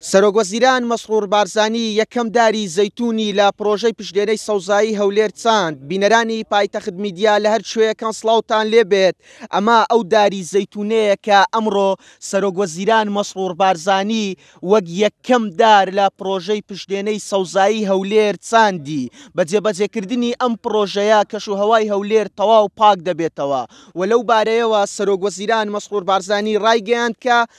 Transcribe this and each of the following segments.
سەرۆکوەزیران مەسرور بارزانی یەکەم داری زەیتونی لە پرۆژەی پشتێنەی سەوزایی هەولێر چاند، بینەرانی پایتەخت میدیا لە هەر کوێیەکان سڵاوتان لێ بێت، ئەمە ئەو داری زەیتونەیە کە ئەمڕۆ سەرۆکوەزیران مەسرور بارزانی وەک یەکەم دار لە پرۆژەی پشتێنەی سەوزایی هەولێر چاندی، بە جێبەجێکردنی ئەم پرۆژەیە کەشوهەوای هەولێر تەواو پاک دەبێتەوە و لەو بارەیەوە سەرۆکوەزیران مەسرور بارزانی رایگەیاند کە.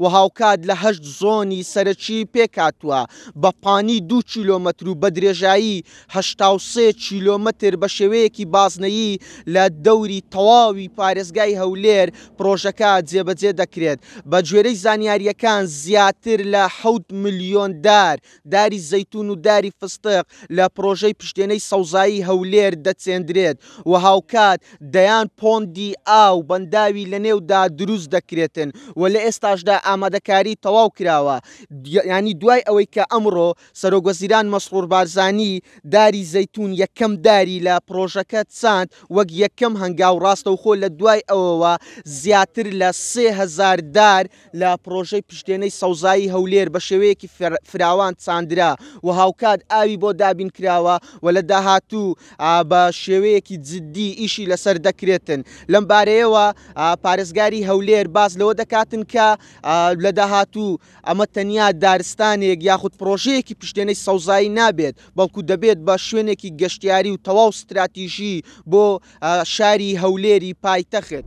و هاوکات لە هەشت زۆنی سەرەکی پێکهاتووە، بە پانی دوو کیلۆمەتر و بە درێژایی هەشتا و سێ کیلۆمەتر بە شێوەیەکی بازنەیی لە دەوری تەواوی پارێزگای هەولێر پڕۆژەکە جێبەجێ دەکرێت بە گوێرەی زانیارییەکان زیاتر لە حەوت ملیۆن دار داری زەیتون و داری فستق لە پرۆژەی پشتێنەی سەوزایی هەولێر دەچێندرێت و هاوکات دەیان پۆندی ئاو بەنداوی لە نێودا دروست دەکرێتن و لە ئێستاشدا ئامادەکاری تەواو کراوە یانی دوای ئەوەی کە ئەمڕۆ سەرۆک وەزیران مەسرور بارزانی داری زەیتون یەکەم داری لە پرۆژەکە چاند وەک یەکەم هەنگاو ڕاستەوخۆ لە دوای ئەوەوە زیاتر لە سێ هەزار دار لە پڕۆژەی پشتێنەی سەوزایی هەولێر بە شێوەیەکی فراوان چاندرا و هاوکات ئاوی بۆ دابین کراوە و لە داهاتوو بە شێوەیەکی جددی ئیشی لەسەر دەکرێتن. لەم بارەیەوە پارێزگاری هەولێر باس لەوە دەکاتن کە لە داهاتوو ئەمە تەنیا دارستانێک یاخود پڕۆژەیەکی پشتێنەی سەوزایی نابێت، بەڵکو دەبێت بە شوێنێکی گەشتیاری و تەواو ستراتیژی بۆ شاری هەولێری پایتەخت.